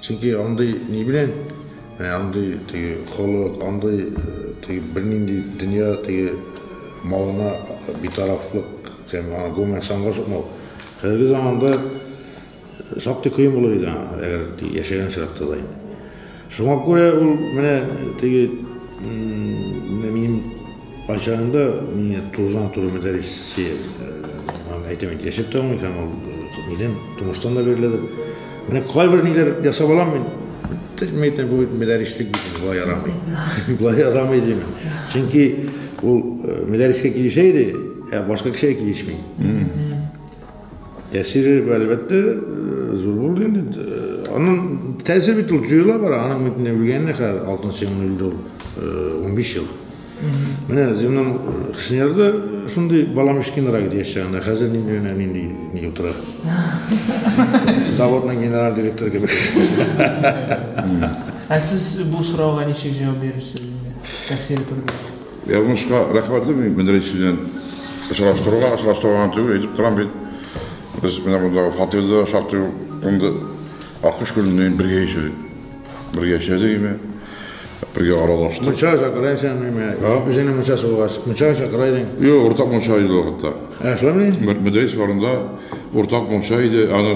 Чөнки андый ни белән, менә андый теге холык, андый теге бернинди дөнья теге малына битарафлык һәм аны гомумән санга сукмау. Хәзерге заманда шактый кыен булыр иде аңа, әгәр яшәгән чакта да инде. Шуңа күрә ул менә теге менә минем Кайчагында мин турыдан туры мәдәресе әйтәм инде яшәп тә алмый һәм ул нидән тумыштан да биреләдер. Менә кайбер ниләр ясап алам мин. Тәҗмә итә бу мәдәрислек бит болай ярамый. Болай ярамый дим. Чөнки ул мәдәрескә килешә иде, ә башка кешегә килешми. Тәсире, әлбәттә, зур булды инде. Аның тәсире бит ул җыела бара, аның бит не белгәнне хәзер алтын сыймын үлде ул 15 ел. Менә Зимнан Хснерда шундый балам кечкенерәк иде яшь чагында, хәзер нинди генә нинди ни утыра. Заводның генераль директоры кебек. Ә сез бу сорауга ничек җавап бирерсез? Тәсире турында. Язмышка рәхмәт белмим, менә рәис белән очраштыруга, очраштырган түгел, әйтеп торам бит. Без менә монда фатирда шактый инде Аккош күленнән бергә яшәдек. Бергә яшәдек име? Бергә аралаштык. Мунчага чакыра икән миме? Үзеңнең мунчасы булгач, мунчага чакыра идең. Юк, уртак мунча иде вакытта. Ә, шулаймыни? Мөдәрис барында уртак мунча иде, аны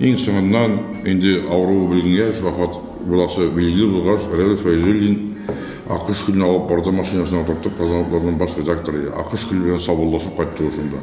Иң соңыннан, инде авыруы беленгәч, вафат буласы билгеле булгач, Рәүф Фәйзуллин Аккош күленә алып барды, машинасына утыртып, Казан утларының баш редакторы Аккош күле белән саубуллашып кайтты ул шунда.